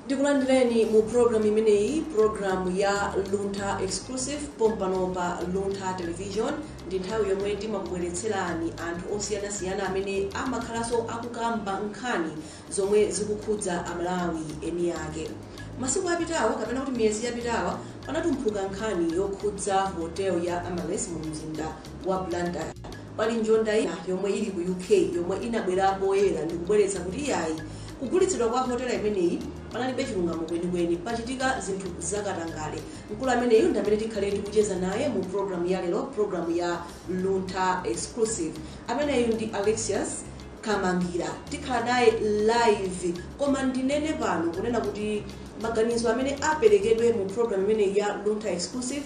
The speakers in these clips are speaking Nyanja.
Ndikulandireni mu program imeneyi, program ya Luntha Exclusive pompano pa Luntha Television. Ndi nthawi yomwe timakubweretserani anthu osiyanasiyana amene amakhalanso akukamba nkhani zomwe zikukhudza Amalawi eni ake. Masiku apitawa kapena kuti miyezi yapitawa panatumphuka nkhani yokhudza hotel ya Amaryllis mu mzinda wa Blantyre. Pali njonda ina yomwe ili ku UK yomwe inabwera poyera ndikubweretsa kuti iyayi kugulitsidwa kwa hotela imeneyi panalibe chilungamo kwenikweni pachitika zinthu zakatangale. Mkulu ameneyu ndi amene tikhale ndikucheza naye mu program ya lero, program ya Luntha Exclusive. Ameneyu ndi Alexious Kamangila tikhala naye live koma ndinene pano kunena kuti maganizo amene aperekedwe mu program imeneyi ya Luntha Exclusive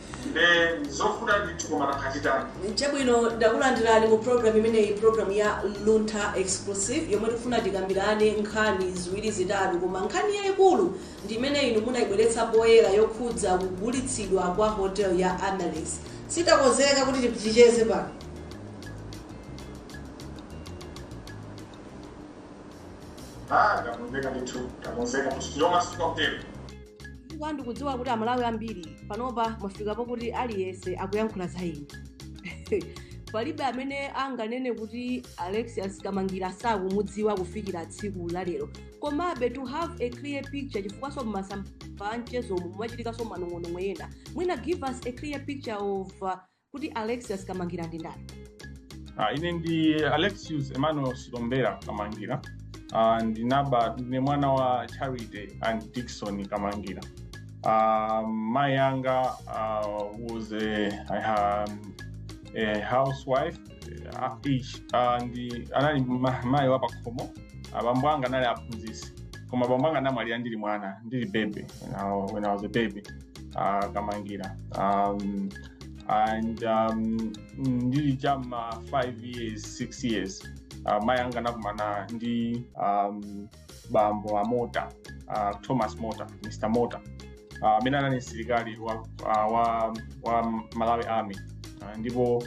nde nzovuta ndithu koma nanga titani. Chabwino ndakulandirani mu program imeneyi program ya Luntha Exclusive yomwe tikufuna tikambirane nkhani ziwiri zitatu koma nkhani yayikulu ndi imene inu munayibweretsa poyera yokhudza kugulitsidwa kwa hotel ya Amaryllis si takonzeka kuti ticheze pano Ah, ndakonzeka ndithu ndakonzeka kuti tilomasuka kutero. chifukwa ndikudziwa kuti amalawi ambiri panopa mwafika pokuti aliyense akuyankhula za inu palibe amene anganene kuti alexius kamangila sakumudziwa kufikira tsiku la lero komabe to have a clear picture chifukwanso mmasamba anchezomu mumachitikanso manong'onong'o ena mwina give us a clear picture of uh, kuti alexius kamangila ndi ndani Ah, ine ndi alexius emmanuel silombera kamangila Ah, ndinaba ndine mwana wa charity and dickson kamangila Ah, mayi anga ah, was a, I ha- a housewife ah, ish, ah, ndi anali ma- mayi wa pakhomo abambo anga anali aphunzitsi koma abambo anga anamwalira ndili mwana ndili baby when I- when i was a baby uh, kamangila um, and um, ndili cha m'ma 5 years 6 years uh, mayi anga anakumana ndi um, bambo a mota uh, thomas mota mr mota amene uh, anali msilikali wa, uh, wa, wa malawi army uh, ndipo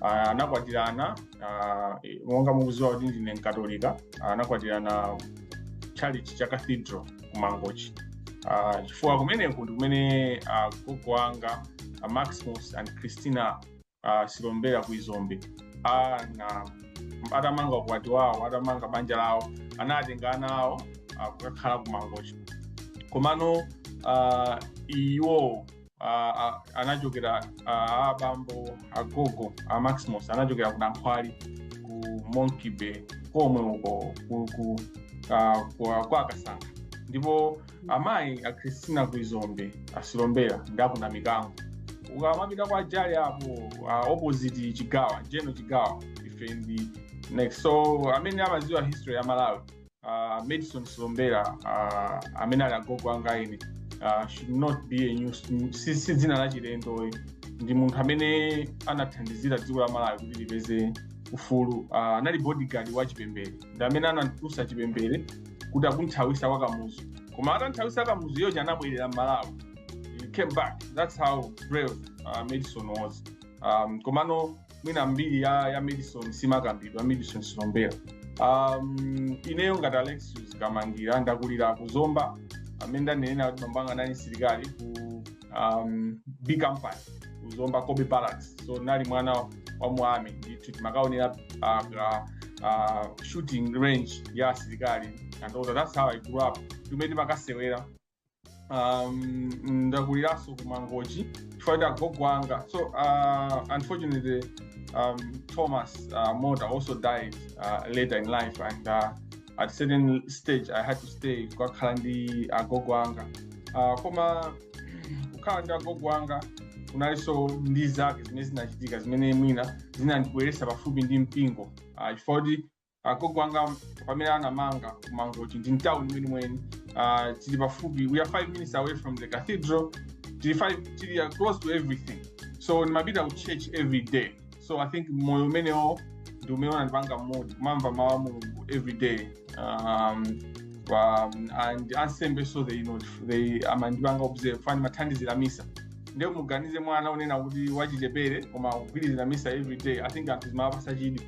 uh, anakwatirana uh, monga mukuziwa kuti ndine mkatolika uh, anakwatirana tchalitchi cha cathedral kumangochi Ah, chifukwa kumeneko ndi kumene ah, gogo wanga ah, maximus and christina ah, silombera ku izombe Ah, na atamanga ukwati wawo atamanga banja lawo anatenga ana awo ah, kukakhala kumangochi komano ah, iwo ah, ah, anachokera ah, abambo agogo a maximus anachokera ku nankhwali ku monkey bay komwe uko ku- ku- ah, kwa kwa kasankha ndipo amayi a christina kuizombe asilombera ndi aku namikango ukamapita kwa jali apo ah, opposite chigawa general chigawa ife ndi next so amene amaziwa history ya malawi uh, Medson Silombera uh, amene ali agogo anga ine uh, should not be a new si, si dzina la chilendo ayi ndi munthu amene anathandizira dziko la Malawi kuti lipeze ufulu uh, anali bodyguard wa chipembere ndi amene anatulutsa chipembere kuti akumthawisa kwa kamuzu koma atamthawisa kamuzu iyeyo anabwerera m'Malawi he came back that's how brave uh, Medson was um, komano mwina mbiri ya, ya medson simakambidwa medson silombera um, ineyo ngati alexious kamangila ndakulira ku zomba mmene ndanenera kuti bambo anga anali msilikali ku um, b company ku zomba cobbe barracks so nali mwana wa mu army ndithu timakaonera uh, uh, uh, shooting range ya asilikali and all that. that's how i grew up kumene timakasewera um, ndakuliranso ku mangochi chifukwa kuti agogo anga so uh, unfortunately um, thomas uh, mota also died uh, later in life and uh, at certain stage i had to stay kukakhala ndi agogo anga uh, koma kukhala ndi agogo anga kunalinso ndi zake zimene zinachitika zimene mwina zinandibweretsa pafupi ndi mpingo uh, chifukwa kuti agogo anga pamene anamanga ku mangochi ndi mtown mwenimweni uh, tili pafupi we are five minutes away from the cathedral tili five tili uh, close to everything so ndimapita ku church every day so i think moyo umenewo ndi umene unandipanga mould kumamva mawu a mulungu every day um, um, and ansembe so they, you know, they amandipanga observe chifukwa nimathandizira misa nde muganize mwana kunena kuti wachichepere koma kugwirizira misa every day i think anthu zimawapasa chidwi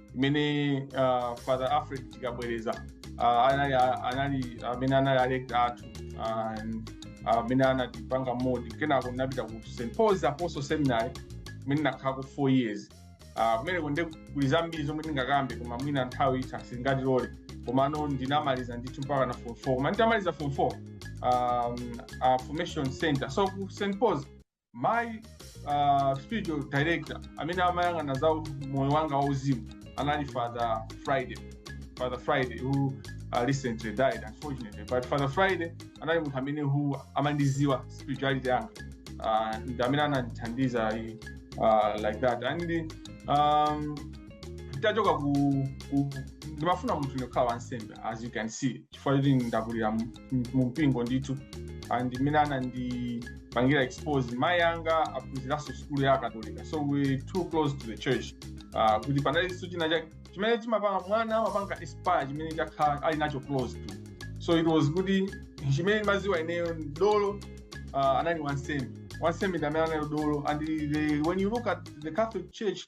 imene uh, father alfred tikabwereza uh, anali anali amene anali a rector athu and amene anatipanga mould kenako ndinapita ku st paul's apostle seminary kumene ndinakhalako four years Ah, kumeneko nde kuli zambiri zomwe ndingakambe koma mwina nthawi itha singatilole komano ndinamaliza ndithu mpakana form 4 koma nditamaliza form 4 um, uh, formation center so ku st paul's my uh, spiritual director amene amayang'ana za moyo wanga wauzimu anali father friday father friday who uh, recently died unfortunately but father friday anali munthu amene who amandiziwa spirituality yanga uh, ndi amene anandithandiza uh, like that and um, tachoka ku, ku ndimafuna munthu ndikhala wansembe as you can see chifukwa choti ndakulira mu- mu mpingo ndithu and mmene anandipangira expose mayi anga aphunziranso sukulu ya akatolika so we're too close to the church Ah, kuti panalinso china chake chimene chimapanga mwana amapanga aspire chimene chakhala ali nacho close to so it was kuti chimene ndimaziwa ineyo ndi dolo uh, anali wansembe wansembe ndi amene anali dolo and the, when you look at the catholic church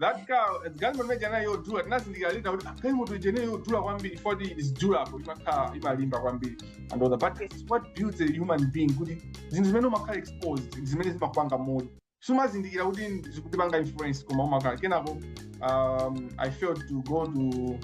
that car galimoto imene ijayo yodula tinazindikira later kuti galimoto imeneyo yodula kwambiri koma it is durable imakhala imalimba kwambiri and all that but it's what builds a human being kuti zinthu zimene umakhala exposed ndi zimene zimakupanga moyo sumazindikira kuti zikutipanga influence koma umakhala kenako um, i failed to go to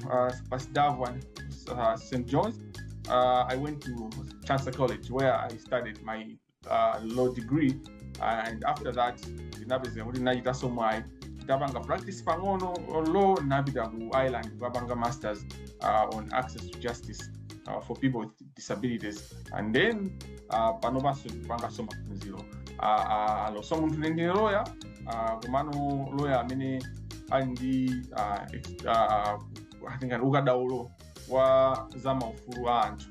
uh, Pius XII and uh, st johns uh, i went to chancellor college where i studied my uh, law degree and after that ndinapezeka kuti ndinachitanso mwayi ndapanga practice pang'ono on law ndinapita ku ireland kukapanga masters uh, on access to justice uh, for people with disabilities and then uh, pano panso ndikupanganso maphunziro uh, uh, a law so munthu ndine loya uh, komano loya amene ali ndi uh, ex- uh, uh, atingati ukadaulo wa za maufulu a anthu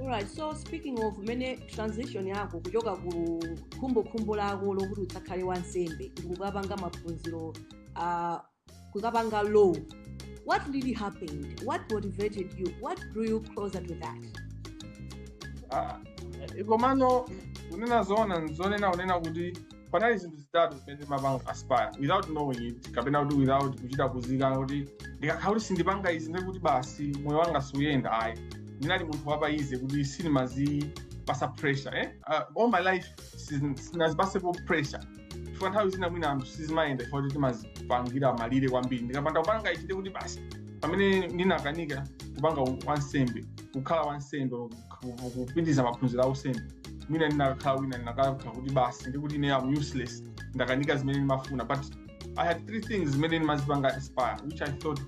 Alright, so speaking of mene transition yako kuchoka ku khumbokhumbo lako lokuti udzakhale wansembe ndikukapanga maphunziro uh, kukapanga law what really happened what motivated you what drew you closer to that Eh, komano kunena zoona nzonena kunena kuti panali zinthu zitatu zimene timapanga aspire without knowing it kapena kuti without kuchita kuziika kuti ndikakhala kuti sindipanga izi ndiye kuti basi moyo wanga suyenda ayi ndinali munthu wa pa easy kuti sindimazipasa pressure eh? uh, all my life sin- sinazipasepo pressure chifukwa nthawi zina mwina anthu sizimayenda chifukwa kuti timazipangira malire kwambiri ndikapanda kupanga ichi ndiye kuti basi pamene ndinakanika kupanga wansembe kukhala wansembe ku- ku- kupitiriza maphunziro a usembe mwina ndinakakhala wina ndinakakhala kuti basi ndikuti ine am useless ndakanika zimene ndimafuna but i had three things zimene ndimazipanga aspire which i thought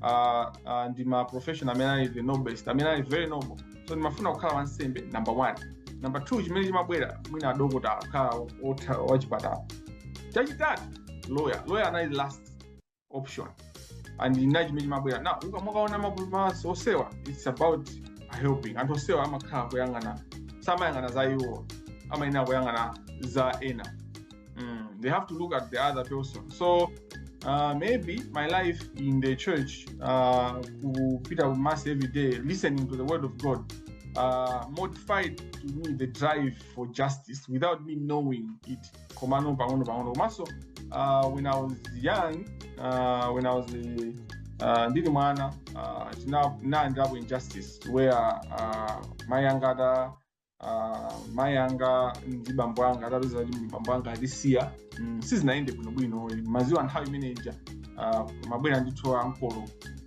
uh, uh, ndi ma profession amene ali the noblest amene ali very noble so ndimafuna kukhala wansembe number one number two chimene chimabwera mwina adokotala kukhala otha- wachipatala chachitatu lawyer lawyer anali last option and ina chimene chimabwera now mukamawaona ma professions onsewa it's about helping anthu onsewa amakhala kuyang'ana samayang'ana za iwo amayenera kuyang'ana za ena mm, they have to look at the other person so uh, maybe my life in the church uh, kupita ku mass every day listening to the word of god uh, modified to me the drive for justice without me knowing it komano pang'ono pang'ono komanso uh, when i was young uh, when i was uh, ndili mwana uh, ndinayendapo injustice where uh, mai anga ata uh, mai anga ndi bambo anga atapeza kuti bambo anga atisiya mm, sizinayende bwinobwino maziwa nthawi imene ija uh, amabwera ndithu ankolo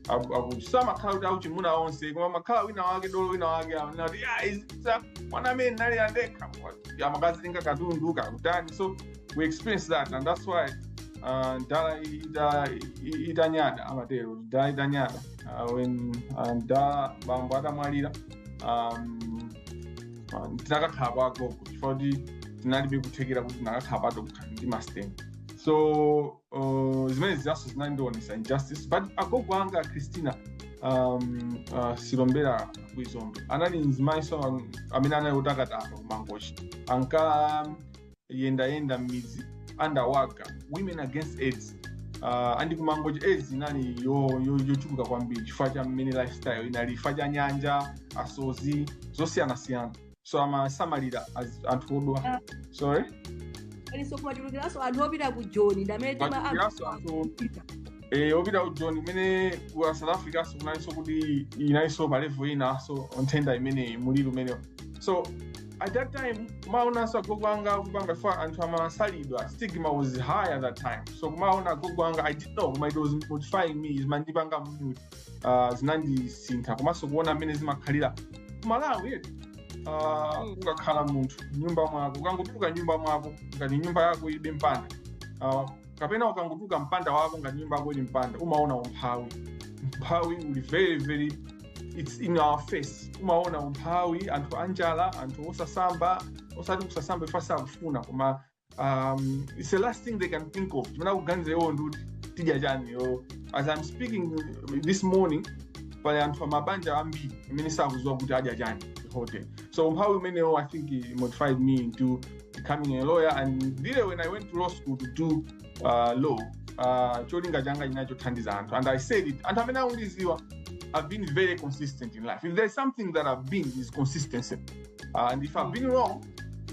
Aku- aku- samakhala kuti akuchimuna onse koma amakhala wina wake dolo wina wake anati "Ah, izi- za- mwana amene anali andekha amakazitenga katundu kakutani so we experience that and that's why uh, ndala ita- i- itanyada amatero ndala itanyada uh, when uh, ndala bambo atamwalira um, uh, tinakakhala kwa agogo chifukwa kuti tinalibe kuthekera kuti tinakakhala patokha ndi masteni so uh, zimene zinanso zinandionesa injustice but agogo anga a christina um, uh, silombera kwizombe anali mzimayiso am- amene anali otakataka kumangochi ankayendayenda m'midzi under wa women against aids uh, andi kumangochi aids inali yo- yo- yochuluka kwambiri chifukwa cha mmene lifestyle inali chifukwa cha nyanja asozi zosiyanasiyana so amasamalira az- anthu odwala sorry kumachulukiranso anthu opita ku joni ndamene tima Machulukiranso anthu- eh, opita ku joni kumene ku south africa so kunalinso kuti inalinso pa level inaso nthenda imeneyi muliri umenewo so at that time kumaonanso agogo anga kupanga for anthu amasalidwa stigma was high at that time so kumaona agogo anga i didn't know koma it was molding me zimandipanga mold uh, zinandisintha komanso kuona mmene zimakhalira ku malawi eti uh, Mm. ukakhala munthu nyumba mwako ukangotuluka nyumba mwako ngati nyumba yako ilibe mpanda uh, kapena ukangotuluka mpanda wako ngati nyumba yako ili ndi mpanda umaona umphawi umphawi uli very very its in our face umaona umphawi anthu anjala anthu osasamba osati kusasamba if sakufuna koma um, it's the last thing they can think of chimene akuganiza iwo ndi kuti tidya chani yo as i'm speaking this morning pali anthu amabanja ambiri amene sakuziwa kuti adya chani at all so umphawi umenewo i think it molded me into becoming a lawyer and really when i went to law school to do uh, law uh, cholinga changa chinali chothandiza anthu and i said it anthu amene akundiziwa i've been very consistent in life if there's something that i've been is consistency uh, and if i've been wrong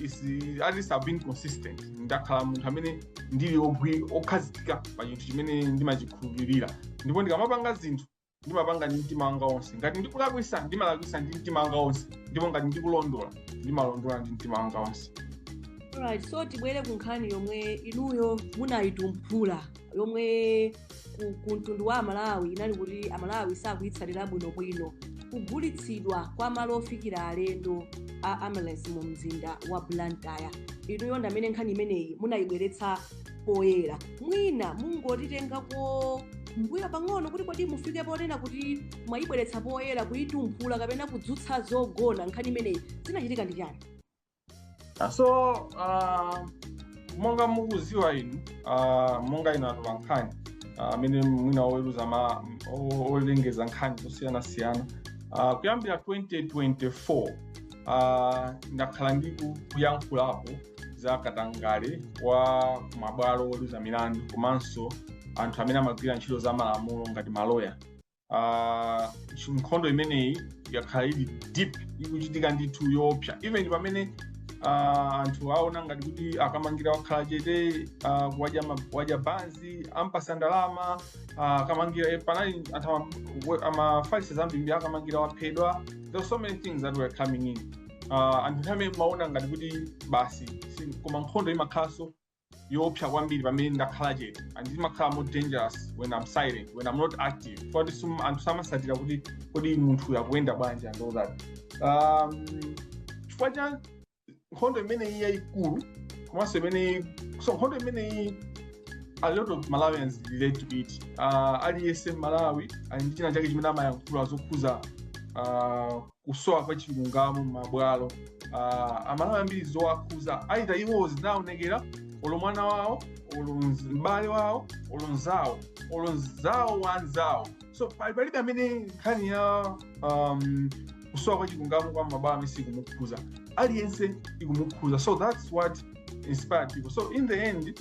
is at least I've been consistent ndakhala munthu amene ndili ogwi okhazikika pa chinthu chimene ndimachikhulupirira ndipo ndikamapanga zinthu ndimapanga ndi mtima wanga wonse ngati ndikulakwisa ndimalakwisa ndi mtima wanga wonse ndipo ngati ndikulondola ndimalondola ndi mtima wanga wonse Alright, so tibwere ku nkhani yomwe inuyo munayitumphula yomwe ku, ku mtundu wa amalawi inali kuti amalawi sakuyitsatira bwinobwino kugulitsidwa kwa malo ofikira alendo a amaryllis mu mzinda wa blantyre inuyo ndi amene nkhani imeneyi munayibweretsa poyera mwina mungotitengako mbuyo pang'ono kuti kodi mufike ponena kuti mwayibweretsa poyera kuyitumphula kapena kudzutsa zogona nkhani imeneyi zinachitika ndi chani Ah, so uh, monga mukuziwa inu uh, monga inu atola nkhani ah, amene uh, mwina oweruza ma o- olengeza nkhani zosiyanasiyana uh, kuyambira 2024 uh, ndakhala ndi ku- kuyankhulapo za katangale wa kumabwalo oweruza milandu komanso anthu amene amagwira ntchito za malamulo ngati maloya ah, chi- nkhondo imeneyi yakhala ili deep ikuchitika ndithu yoopsa even pamene ah, anthu aona ngati kuti a kamangila wakhala chete ah, wadya ma- wadya banzi ampasa ndalama ah, a kamangila eh, panali anthu ama- we- amafalisa zambiri a kamangila waphedwa there were so many things that were coming in Ah, anthu nthawi imene amaona ngati kuti basi si- koma nkhondo imakhalanso yoopsa kwambiri pamene ndakhala chete and imakhala more dangerous when i'm silent when i'm not active poti sum- anthu samasatira kuti kodi munthu akuyenda bwanji and all that um, chifukwa cha nkhondo imeneyi yayikulu komanso imeneyi so nkhondo imeneyi a lot of malawians relate to it uh, aliyense mmalawi ali ndi china chake chimene amayankhula zokhuza uh, kusowa kwa chilungamo m'mabwalo ah, amalawi ambiri zowakhuza aita iwo zinaonekera olo mwana wawo olo mz- m'bale wawo olo mzawo olo mzawo wa mzawo so pali- palibe amene nkhani ya um, kusowa kwa chilungamo kwa mabwalo amene sikumukhuza aliyense ikumukhuza so that's what inspired people so in the end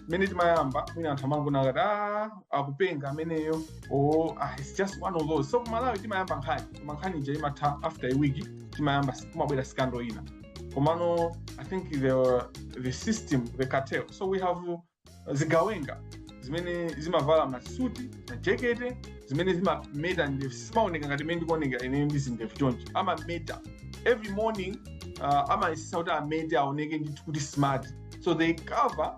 mmene timayamba mwina anthu amangona akati "Ah, akupenga ameneyo or ah, it's just one of those so kumalawi timayamba nkhani koma nkhani ija imatha after a week timayamba kumabwera scandal ina komano i think the, the system the cartel so we have uh, zigawenga zimene zimavala masuti majekete zimene zimameta ndevu simaoneka ngati mmene ndikuoneka ine ndi zindevu chonchi amameta every morning uh, amayesesa kuti amete aoneke ndithu kuti smart so they cover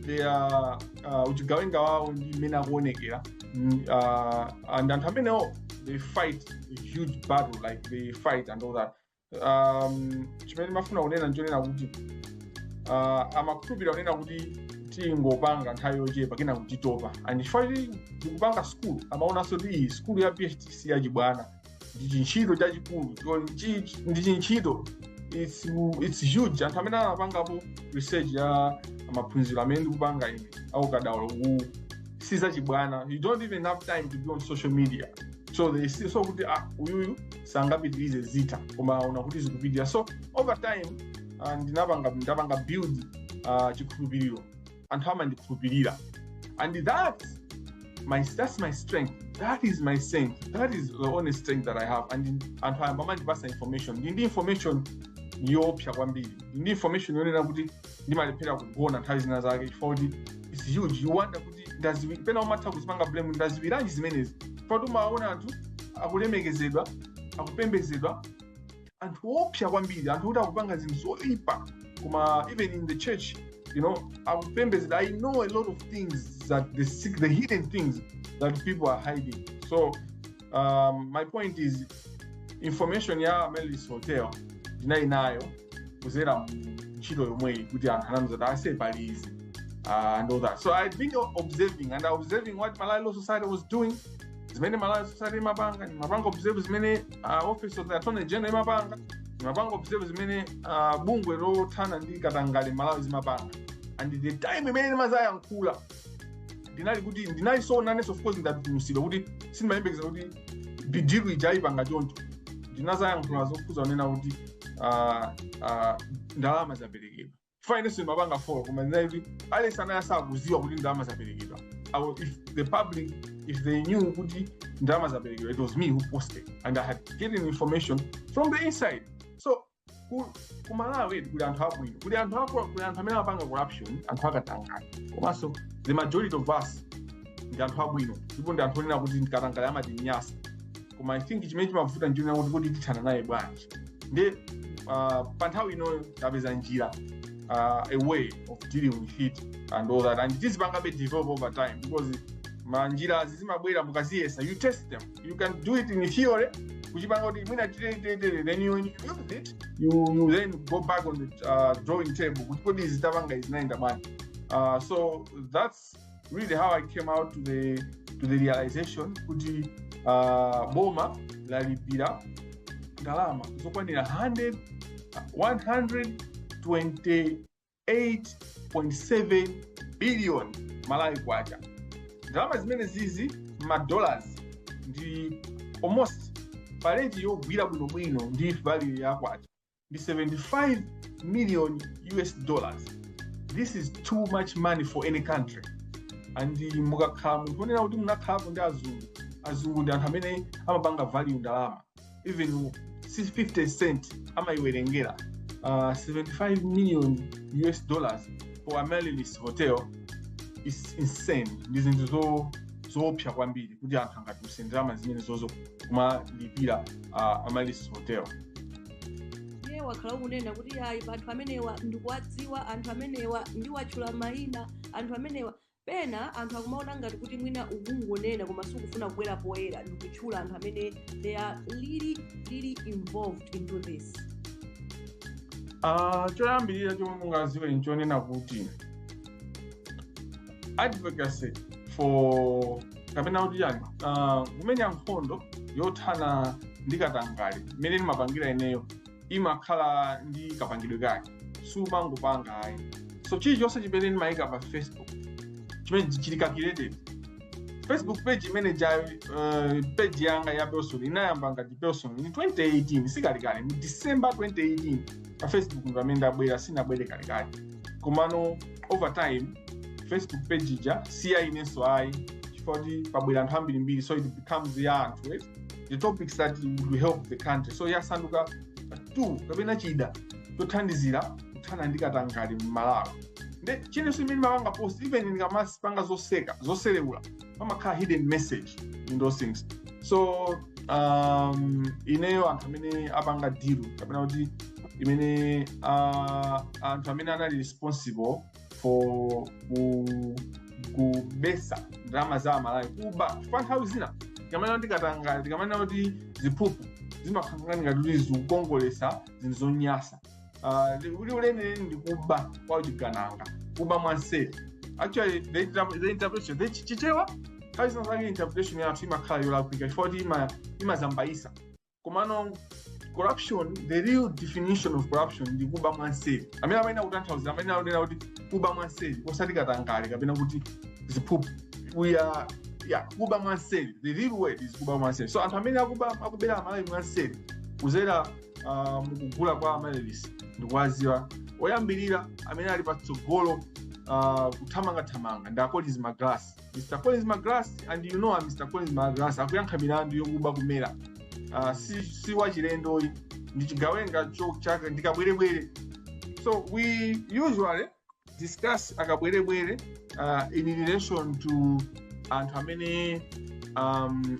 the ah, ah, uchigawenga wawo ndi mmene akuonekera Mm, ah, and anthu amenewo they fight a huge battle like they fight and all that um, chimene ndimafuna kunena nchonena kuti uh, amakhulupirira kunena kuti tingopanga nthawi yochepa kenako titopa and chifukwa kuti ndikupanga skulu amaonanso kuti ii skulu ya phd si yachibwana ndi chintchito chachikulu chiko- ndi chi- ndi chintchito it's, it's huge anthu amene anapangapo research ya maphunziro amene ndikupanga ine aukadaulo uwu si zachibwana you don't even have time to be on social media so they see so kuti ah uyuyu sangapitirize zitha koma aona kuti zikupitirira so over time ah, ndinapanga ndapanga build ah, chikhulupiriro anthu amandikhulupirira and that my that's my strength that is my strength that is the only strength that i have and anthu ayamba amandipasa information ndili ndi information yoopsa kwambiri ndili ndi information yonena kuti ndimalephera kugona nthawi zina zake chifukwa kuti its huge you wonder kuti ndaziwi pena umatha kuzipanga blame ndaziwiranji zimenezi chifukwa kuti umaona anthu akulemekezedwa akupembedzedwa anthu oopsa kwambiri anthu oti akupanga zinthu zoipa koma even in the church you know akupembedzedwa i know a lot of things that the, sec- the hidden things that people are hiding so um, my point is information ya amaryllis hotel ndinali nayo kuzera mu ntchito yomweyi kuti anthu anandiuza kuti aise pali izi uh, and all that so i've been observing and observing what malawi law society was doing zimene malawi society imapanga ndimapanga observe zimene uh, office of the attorney general imapanga ndimapanga observe zimene uh, bungwe lothana ndi katangale malawi zimapanga and the time imene ndimazayankhula ndinali kuti ndinali so nanenso of course ndatutumutsidwa kuti sindimayembekeza kuti the deal ija ayipanga choncho ndinazayankhula zokhuza kunena kuti uh, uh, ndalama zaperekedwa chifukwa inenso ndimapanga follow koma ndinati aliyense anali asakuziwa kuti ndalama zaperekedwa Awo, if the public if they knew kuti ndalama zaperekedwa it was me who posted and i had gotten information from the inside so ku, ku malawi kuli anthu abwino kuli anthu akuba kuli anthu amene amapanga corruption anthu akatangale komanso the majority of us ndi anthu abwino ndipo ndi anthu onena kuti ndi katangale amatinyasa koma i think chimene chimavuta nchonena kuti kuti tithana naye bwanji ndi uh, pa nthawi inoyo tapeza njira uh, a way of dealing with it and all that and tizipangabe develop over time because manjira zimabwera mukaziyesa you test them you can do it in theory kuchipanga kuti mwina titere titere then you, when you use it you, you then go back on the uh, drawing table kuti kodi izi tapanga izi zinayenda bwanji uh, so that's really how i came out to the, to the realization kuti uh, boma lalipira ndalama zokwanira 100 128.7 billion malawi kwacha ndalama zimenezizi madollars ndi almost pa rate yogwira bwinobwino ndi value ya kwacha ndi 75 million us dollars this is too much money for any country and mukakhala munthu onena kuti munakhalapo ndi azungu azungu ndi anthu amene amapanga value ndalama even 50 cent amayiwerengera uh, 75 million us dollars for amaryllis hotel is insane ndi zinthu zo zoopsa kwambiri kuti anthu angatuluse ndalama zimenezozo kumalipira uh, amaryllis hotel iwe wakhala ukunena kuti ayi anthu amenewa ndikuwadziwa anthu amenewa ndiwatchula mayina anthu amenewa pena anthu akumaona ngati kuti mwina ukungonena koma sukufuna kubwera poyera ndikutchula anthu amene they are really really involved into this Ah, choyambirira chomwe mungaziwe nchonena kuti advocacy for kapena kuti chani ah, kumenya nkhondo yothana ndi katangale mmene ndimapangira ineyo imakhala ndi kapangidwe kake sumangopanga ayi so chilichonse chimene ndimayika pa facebook chimene chili calculated facebook page imene ijayo uh, page yanga ya personal inayamba ngati personal in 2018 si kalekale mu december 2018 pa facebook ndi pamene ndabwera sinabwere kalekale komano over time facebook page ija si ya inenso ayi chifukwa kuti pabwera anthu ambirimbiri so it becomes ya anthu eh? the topics that would help the country so yasanduka tool kapena chida chothandizira kuthana ndi katangale m'malawi nde chilichonse chimene ndimapanga post even ndikamazipanga zoseka zoselewula pamakhala hidden message in those things so um, ineyo anthu amene apanga deal kapena kuti imene uh, anthu amene anali responsible for ku kubesa ndalama za amalawi kuba chifukwa nthawi zina tikamanena kuti katangale tikamanena kuti ziphuphu zimakhala ngati kuti zikukongolesa zinthu zonyasa Ah, liwu liwu lenileni ndi kuba kwa uchigandanga kuba mwanseri actually the, inter- the interpretation the chi- chichewa nthawi zina zake interpretation yathu imakhala yolakwika chifukwa kuti ima- imazimbayisa komano corruption the real definition of corruption ndi kuba mwanseri amene amayenera kutanthauza amene akunena kuti kuba mwanseri osati katangale kapena kuti ziphuphu we are yeah, kuba mwanseri the real word is kuba mwanseri so anthu amene akuba akubera amalawi mwanseri kuzera uh, mukugula kwa amaryllis ndikuwaziwa oyambirira amene ali patsogolo uh, kuthamangathamanga ndi a collins magalasi mr collins magalasi and you know mr collins magalasi akuyankha milandu yokuba ku mera uh, si, si wachilendoyi ndi chigawenga chake ndi kabwerebwere so we usually discuss akabwerebwere uh, in relation to anthu amene um,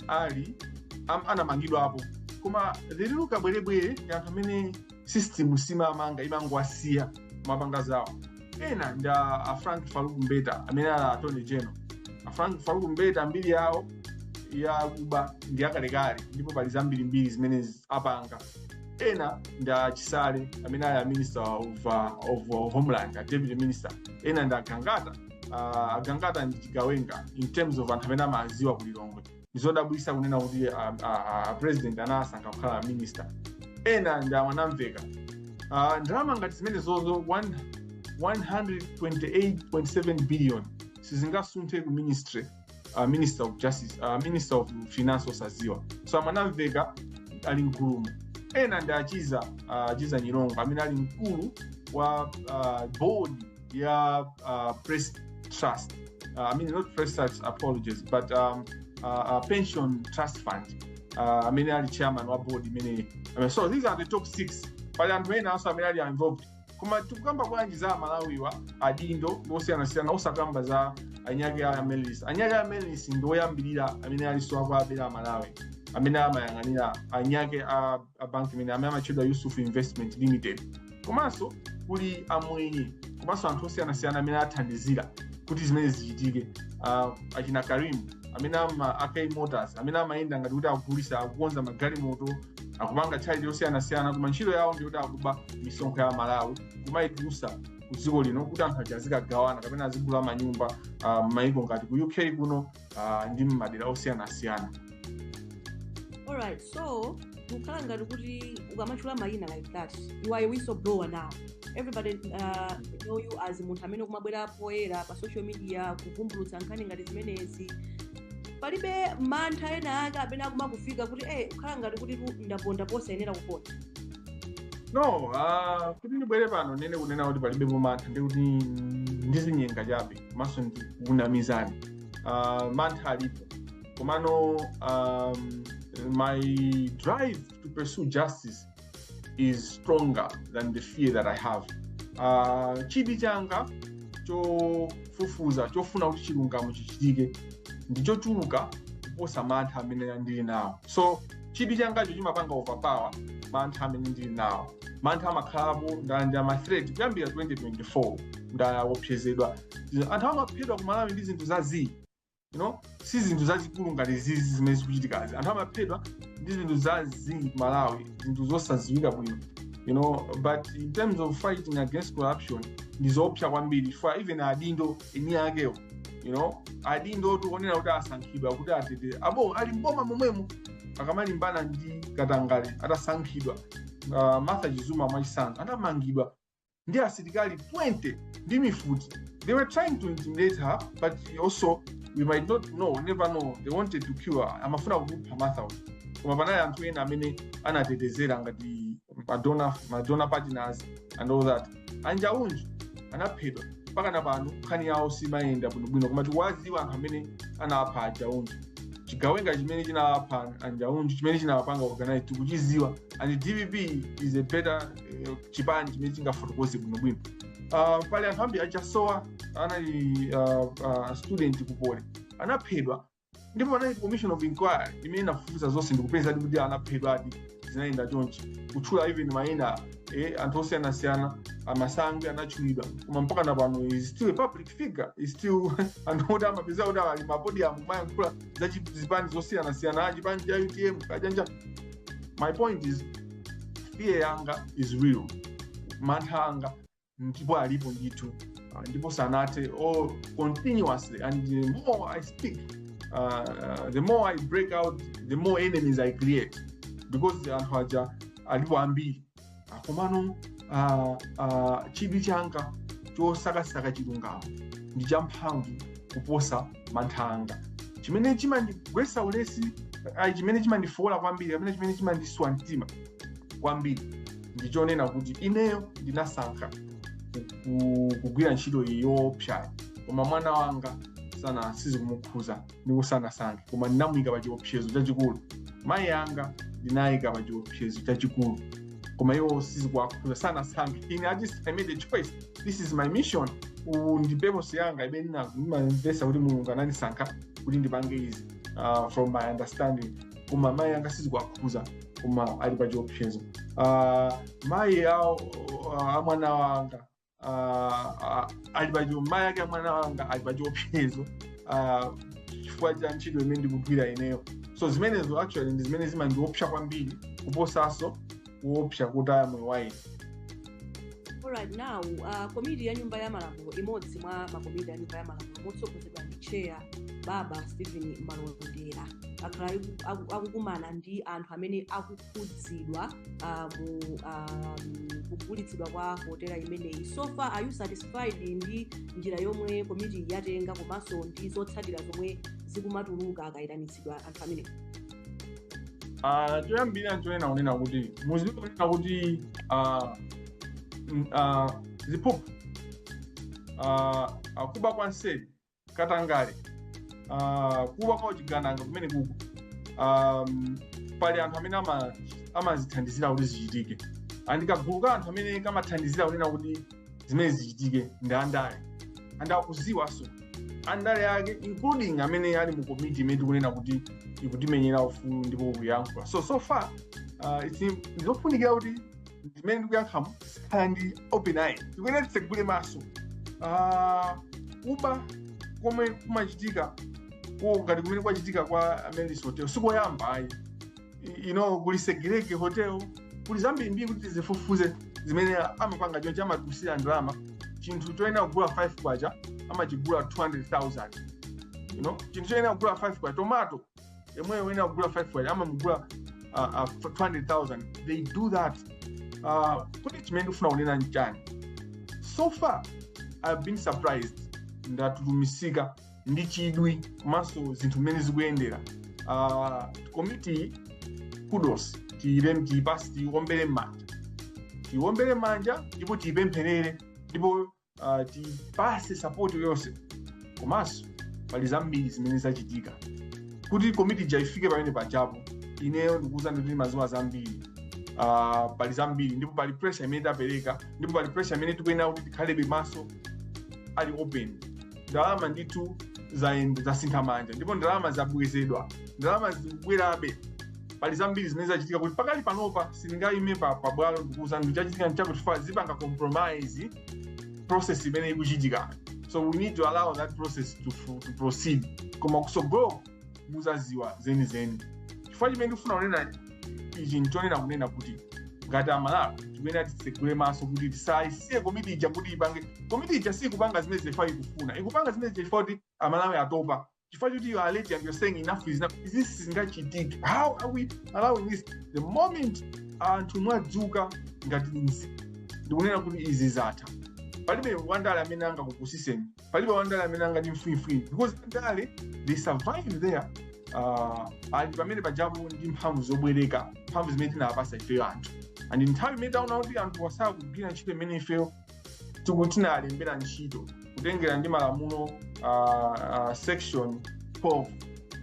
am, anamangidwapo koma lero kabwerebwere ndi anthu amene system simamanga imangowasiya amapanga zawo ena ndi a a frank faruku mbeta amene ali attorney general a frank faruku mbeta mbiri yawo yakuba ndi yakalekale ndipo pali zambirimbiri zimene apanga ena ndi achisale amene ali a minister of, uh, of uh, homeland a deputy minister ena ndi agangata uh, agangata ndi chigawenga in terms of anthu amene amawadziwa ku lilongwe ndizodabwitsa kunena kuti uh, uh, uh, president anaasankha kukhala minister ena ndi amwanamveka uh, ndalama ngati zimenezozo 1 128.7 billion sizingasunthe ku ministry uh, minister of justice uh, minister of finance osaziwa so amwanamveka ali mkulumo ena ndi achiza uh, achiza nyirongo amene ali mkulu wa uh, board ya uh, press trust uh, i mean not press trust apologies but um, uh, uh, pension trust fund uh, amene ali chairman wa board imene I mean, so these are the top six pali anthu ena also amene ali involved koma tikukamba bwanji za amalawiwa adindo osiyanasiyana osakamba za enieake a amaryllis enieake a amaryllis ndi oyambirira amene alinso akuwabera amalawi amene amayang'anira enieake a, a amaryllis amene amatchedwa yusuf investment limited komanso kuli amwenye komanso anthu osiyanasiyana amene athandizira kuti zimene zichitike uh, achina karim amene ama akai motors amene amayenda ngati kuti akugulisa akukonza magalimoto akupanga charity yosiyanasiyana koma ntchito yawo ndiyoti akuba misonkho ya malawi kumayitulusa ku dziko lino kuti anthu aja azikagawana kapena azigula manyumba uh, m'mayiko ngati ku uk kuno uh, ndi m'madera osiyanasiyana alright so zikukhala ngati kuti ukamachula mayina like that you are a whistleblower now everybody uh, know you as munthu amene kumabwera poyera pa social media kuvumbulutsa nkhani ngati zimenezi palibe mantha ena ake amene akumakufika kuti eh zikukhala ngati kuti tu ndaponda posayenera kuponda no ah, kuti ndibwere pano ndinene kunena kuti palibe mantha ndi kuti ndizinyenga chabe komanso ndikunamizani Ah, mantha alipo komano um, my drive to pursue justice is stronger than the fear that i have uh, chidwi changa chofufuza chofuna kuti chilungamo chichitike ndichochuluka kuposa mantha amene ndili nawo so chidwi changacho chimapanga overpower mantha amene ndili nawo mantha amakhalapo ndalandira ma threat kuyambira 2024 ndawopsezedwa anthu amaphedwa kumalawi ndi zinthu za zii you know si zinthu zazikulu ngati zizi zimene zikuchitikazi anthu amaphedwa ndi zinthu za zii malawi zinthu zosadziwika bwino you know but in terms of fighting against corruption ndi zoopsa kwambiri for even adindo eni akewo you know adindo tikuonera kuti asankhidwa kuti atetee abo ali mboma momwemo akamalimbana ndi katangale atasankhidwa uh, martha chizuma mwachitsanzo anamangidwa ndi asilikali 20 ndi mifuti they were trying to intimidate her but also we might not know never know they wanted to kill her amafuna kupha martha uja. koma panali anthu ena amene anatetezera ngati madonor madonor partners and all that a njaunju anaphedwa mpakana pano nkhani yawo siimayenda bwinobwino koma tikuwadziwa anthu amene anapha a njaunju chigawenga chimene chinapha a njaunju chimene chinapanga organize tikuchidziwa and dpp is a better eh, chipani chimene chingafotokoze bwinobwino uh, pali anthu ambiri a chasowa anali uh, uh, student ku poly anaphedwa ndipo panali commission of inquiry imene inafufuza zonse ndikupeza kuti anaphedwadi zinayenda chonchi kutchula even mayina eh, anthu osiyanasiyana a masangwi anatchulidwa koma mpakana pano is still a public figure is still anthu oti amapeza kuti ali m'mapodium kumayankhula za chi- zipani zosiyanasiyana achipani cha utm kajanja my point is fear yanga is real mantha anga ndipo alipo ndithu uh, ndipo sanathe or continuously and the more i speak uh, uh, the more i break out the more enemies i create because anthu aja alipo ambiri Ah, komano uh, uh, chidwi changa chosakasaka chilungamo ndi champhamvu kuposa mantha anga chimene chimandigwesa ulesi ayi chimene chimandifowola kwambiri kapena chimene chimandiswa mtima kwambiri ndi chonena kuti ineyo ndinasankha ku- kugwira ntchito iyi yoopsayo koma mwana wanga sana sizikumukhuza ndipo sanasankhe koma ndinamuyika pa chiopsezo chachikulu mayi anga ndinawayika pa chiopsezo chachikulu koma iwo sizikuwakhuza sanasankhe ine i just I made a choice this is my mission uwu ndi purpose yanga imene ndina- ndimamvesa kuti mulungu anandisankha kuti ndipange izi uh, from my understanding koma mayi anga sizikuwakhuza koma ali pa chiopsezo uh, mayi awo uh, a mwana wanga uh, uh, ali pa chio- mayi ake a mwana wanga ali pa chiopsezo uh, chifukwa cha ntchito imene ndikugwira ineyo so zimenezo actually ndi zimene zimandiopsa kwambiri kuposanso kuopsa kutaya moyo wa ine Alright, now uh, komiti ya nyumba ya malamulo imodzi mwa makomiti ya nyumba ya malamulo motsogozedwa ndi chair baba stephen malondera akhala aku- aku- akukumana ndi anthu amene akukhudzidwa uh, mu um, kugulitsidwa kwa hotela imeneyi so far are you satisfied ndi njira yomwe komiti yatenga komanso ndi zotsatira zomwe zikumatuluka akayitanitsidwa anthu amenewo Ah, choyambirira nchonena kunena kuti mudziko nnena kuti ah, n- ah, ziphuphu ah, ah, kuba kwa nseri katangale ah, kuba kwa uchigananga kumene kuko um, pali anthu amene ama- amazithandizira kuti zichitike and kagulu ka anthu amene kamathandizira kunena kuti zimenezi zichitike ndi andale and akuziwanso andale ake including amene ali mu komiti imene tikunena kuti ikutimenyera ufulu ndipo kuyankhula so so far uh, it's im- ndizofunikira kuti zimene ndikuyenera ndizikhala ndi open eye tikuyenera titsegule maso Ah, kuba komwe kumachitika ko ngati kumene kwachitika kwa Amaryllis Hotel sikoyamba ayi you know kuli Sigelege Hotel kuli zambirimbiri kuti tizifufuze zimene amapanga choncho amachotsera ndalama chinthu choyenera kugula 5 kwacha amachigula 200000 you know chinthu choyenera kugula 5 kwa tomato yemweyo woyenera kugula 5 kwacha amamugula uh, uh, 200000 they do that uh, kuti chimene ndikufuna kunena nchani so far i've been surprised ndatutumutsika ndi chidwi komanso zinthu mmene zikuyendera uh, komiti kudos tiyirem tiyipatse tiyiwombere m'manja tiyiwombere m'manja ndipo tiyipempherere ndipo uh, tiyipase sapoti yonse komanso pali zambiri zimene zachitika kuti komiti ija ifike pamene pajapo ineyo ndikuwuzani ndimadziwa zambiri uh, pali zambiri ndipo pali pressure imene tapereka ndipo pali pressure imene tikuyenera kuti tikhalebe maso ali open ndalama ndithu zayenda zasintha manja ndipo ndalama zabwezedwa ndalama zikubwerabe pali zambiri zimene zachitika kuti pakali panopa sindingayime pa pabwalo ndikuuzani kuti chachitika nchakuti ifa zipanga compromise process imene ikuchitika so we need to allow that process to, to proceed koma kusogolo muzaziwa zenizeni chifukwa chimene ndikufuna kunena ichi nchonena kunena kuti ngati amalawi tikuyenera titsegule maso kuti tisayisiye komiti ija kuti ipange komiti ija sikupanga zimene chifai ikufuna ikupanga zimenezi ifa kuti amalawi atopa chifukwa choti you are alert and you're saying enough is enough izi sizingachitike how are we allowing this the moment anthu mwadzuka ngati nzika ndikunena kuti izi zatha palibe wandale amene angakupusiseni palibe wandale amene angati mfwimfwini because andale they survive there uh, ali pamene pajapo ndi mphamvu zobwereka mphamvu zimene tinapasa ifeyo anthu and nthawi imene taona kuti anthu wasala kugwira ntchito imene ifeyo tiku tinalembera ntchito kutengera ndi malamulo uh, uh, section 12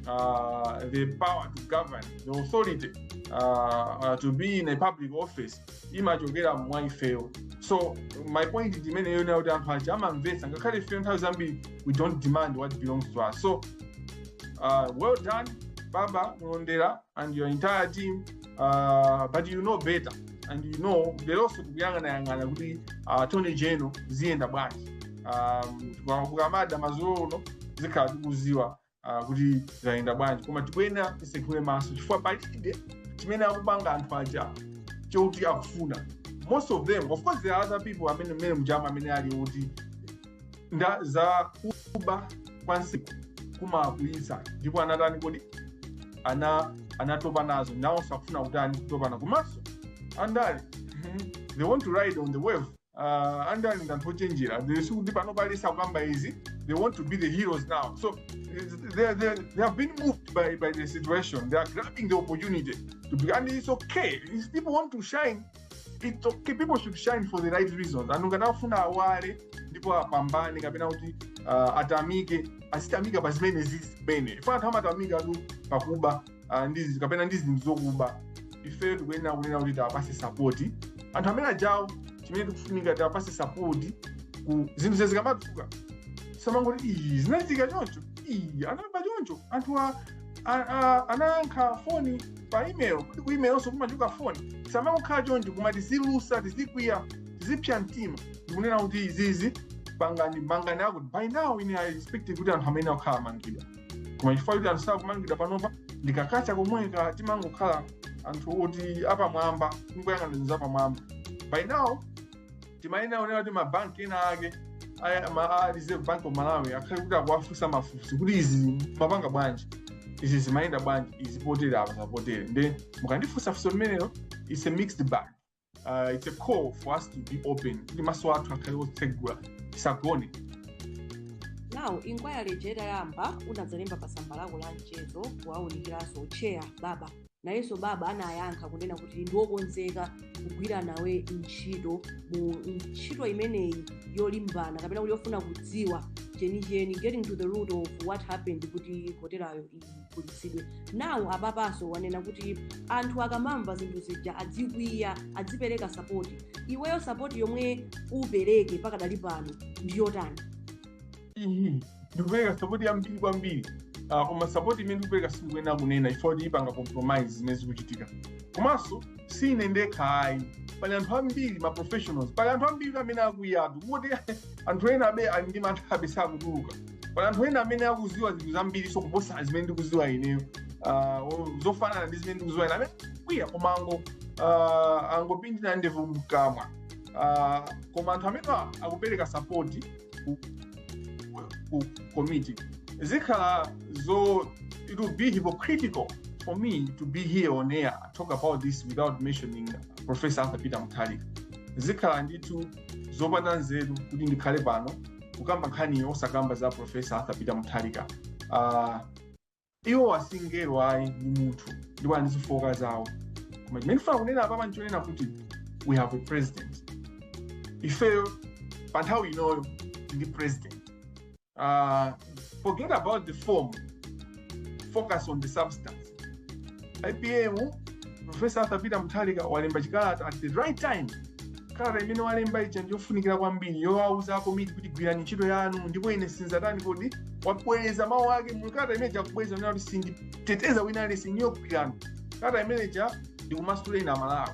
uh, the power to govern the authority uh, uh, to be in a public office imachokera mwa ifeyo so my point ndi imeneyo yonena kuti anthu aja amamvetsa ngakhale ifeyo nthawi zambiri we don't demand what belongs to us so uh, well done baba malondera and your entire team uh, but you know better and you know leronso tikuyang'anayang'ana kuti uh, attorney general ziyenda bwanji um, kukamada mazulo ano tikhala tikuziwa uh, kuti zayenda bwanji koma tikuyenera tisekhule maso chifukwa palibe chimene akupanga anthu aja choti akufuna most of them of course there are other people amene mmene mujamu amene ali oti za kuba kwa nsiku kumakwiyitsa ndipo anatani kodi ana anatopa nazo nawo sakufuna kutani kutopana komanso andale they want to ride on the wave uh, andale ndi anthu ochenjera They- sikuti panopa aliyense akukamba izi they want to be the heroes now so it's- they, they, they have been moved by, by the situation they are grabbing the opportunity to be, and it's okay if people want to shine it's okay people should shine for the right reasons anthu ngati afuna awale ndipo apambane kapena kuti uh, atamike azitamika pa zimenezi zimene funa anthu amatamikatu pakuba ah, ndi zi- kapena ndi zinthu zokuba ifeyo tikuyenera kunena kuti tiwapase sapoti anthu amene ajawo chimene tikufunika tiwapase sapoti ku zinthu izi zikamatuluka tisamangoti iyi zinachitika choncho iyi anaba choncho anthu a- a- a- anayankha foni pa email kuti ku email onso kumachuka foni tisamangokhala choncho koma tizilusa tizikwiya tizipsa mtima ndikunena kuti izizi pangani mangani akuti by now ine i expect kuti anthu amene akhala amangidwa koma chifukwa kuti anthu sakumangidwa panopa ndi ka culture komweka timangokhala anthu oti apamwamba kungoyang'ana zinthu zapamwamba by now timayenera kuonera kuti mabanki ena ake aya- ma- a reserve bank of malawi akhale kuti akuwafunsa mafunso kuti izi mumapanga bwanji izi zimayenda bwanji izi potere apa zapotere nde mukandifunsa funso limenelo its a mixed bag uh, it's a call for us to be open kuti maso athu akhale otsegula tisagone now inquiry ija itayamba unadzalemba pa tsamba lako la mchezo kuwawunikiranso chair baba nayenso baba anayankha kunena kuti ndi wokonzeka kugwira nawe ntchito mu ntchito imeneyi yolimbana kapena kuti yofuna kudziwa chenicheni getting to the root of what happened kuti hotelayo igulitsidwe now apapanso wanena kuti anthu akamamva zinthu zija adzikwiya adzipereka sapoti iweyo sapoti yomwe upereke pakadali pano ndi yotani iyi ndikupereka sapoti yambiri kwambiri Ah, koma sapoti imene ndikupereka sindikuyenera kunena chifukwa kuti ipanga compromise zimene zikuchitika komanso sine ndekha ayi pali anthu ambiri ma professionals pali anthu ambiri amene akwiya kungoti anthu enabe ali ndi manthabe sakutuluka pali anthu ena amene akuziwa zinthu zambirinso kuposa zimene ndikuziwa ineyo Ah, o- zofanana ndi zimene ndikuziwa ine amene akwiya koma ango ah, angopindira ndevu mkamwa Ah, koma anthu amene a- akupereka sapoti ku, ku committee zikhala zo it will be hypocritical for me to be here on air and talk about this without mentioning professor arthur peter mutharika zikhala ndithu zopanda nzeru kuti ndikhale pano kukamba nkhani osakamba za profesa arthur peter mutharika uh, iwo si mngelo ayi ndi munthu ndipo ali ndi zifooka zawo koma chimene ndifuna kunena apapa ndichonena kuti we have a president ifeyo pa nthawi inoyo ndi president uh, forget about the form focus on the substance apm profesa arthur peter mutharika walemba chikalata at the right time kalata imene walemba ija ndiyofunikira kwambiri yowauza akomiti kuti gwirani ntchito yanu ndipo ine sinzatani kodi wabwereza mawu ake mukalata imene ija kubwereza kunena kuti sinditeteza wina aliyense niyogwirana kalata imene ija ndikumasuleni amalawi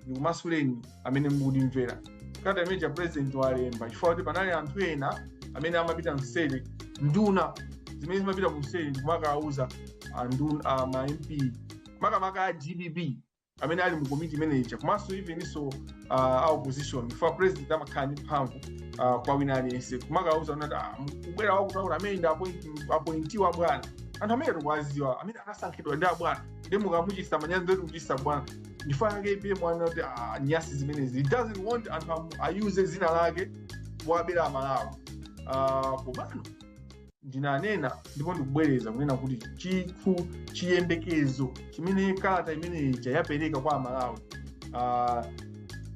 ndikumasuleni amene mukundimvera kalata imene ija president walemba chifukwa kuti panali anthu ena amene amapita mseri nduna zimene zimapita kumseri ndikumakawuza anduna ma mp makamaka a dpp amene ali mu komiti imeneja komanso eveninso a opposition chifukwa president amakhala ndi mphamvu ah, kwa wina aliyense kumakawuza kuti "Ah, kubwera wakutaura amene ndi appoint- appointee wa bwana anthu amene tikuwaziwa amene anasankhidwa ndi abwana ndiye mukamuchisa manyazi ndoti kuchisa bwana chifukwa chake apm anena kuti "Ah, nyasi zimenezi he doesn't want anthu amu- ayuze dzina lake kuwabera amalawi Ah, komano ndinanena ndipo ndikubwereza kunena kuti chikhu chiyembekezo chimene kalata imene ija yapereka kwa amalawi uh,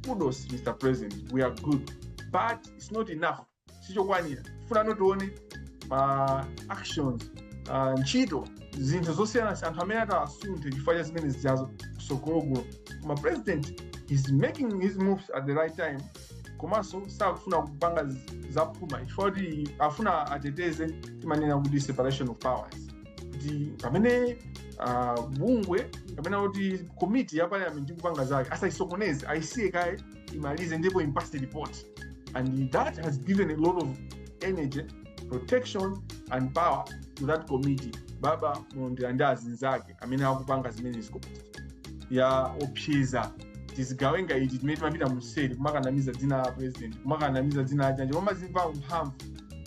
kudos mr president we are good but it's not enough sichokwanira tifunano tione ma actions uh, ntchito zinthu zosiyanasiyana anthu amene atawasunthe chifukwa cha zimene zijazo kusogoloko koma president is making his moves at the right time komanso sakufuna kupanga z- zaphuma chifukwa kuti afuna ateteze timanena kuti separation of powers kuti pamene uh, bungwe kapena kuti komiti ya parliament ikupanga zake asayisokoneze ayisiye kaye imalize ndipo impase report and that has given a lot of energy protection and power to that committee baba mulondera ndi azinzake amene akupanga zimeneziko ya opseza tizigawenga iti timene timapita museri kumakanamiza dzina la president kumakanamiza dzina la chanji kumazimva mphamvu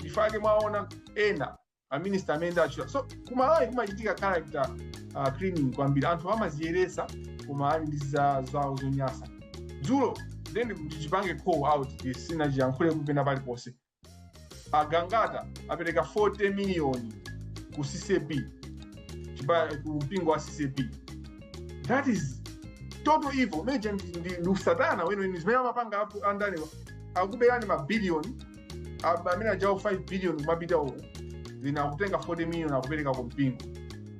ifake mwaona ena ma minister amene ndachula so kumalawi kumachitika character uh, cleaning kwambiri anthu amaziyeresa koma ali ndi za- zawo zonyasa dzulo then ndichipange call out this sinachiyankhule kupena paliponse agangata apereka 40 miliyoni ku ccap chipa- ku mpingo wa ccap that is total evil meje ndi ndi- ndi usatana weniweni zimene amapanga apo andaniwa akuberani mabiliyoni Apa amene ajawo 5 billion kumapita uku wina akutenga 40 million akupereka ku mpingo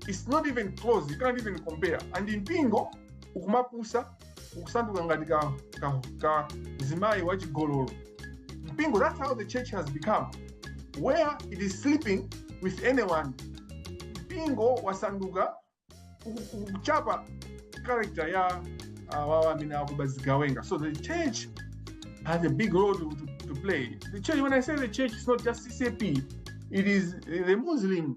it's not even close you can't even compare and mpingo ukumapusa ukusanduka ngati ka, ka, ka mzimayi wachigololo mpingo that's how the church has become where it is sleeping with anyone mpingo wasanduka kuchapa character ya awawa amene akuba zigawenga so the church has a big role to, to, to play the church when i say the church it's not just ccap it is the muslims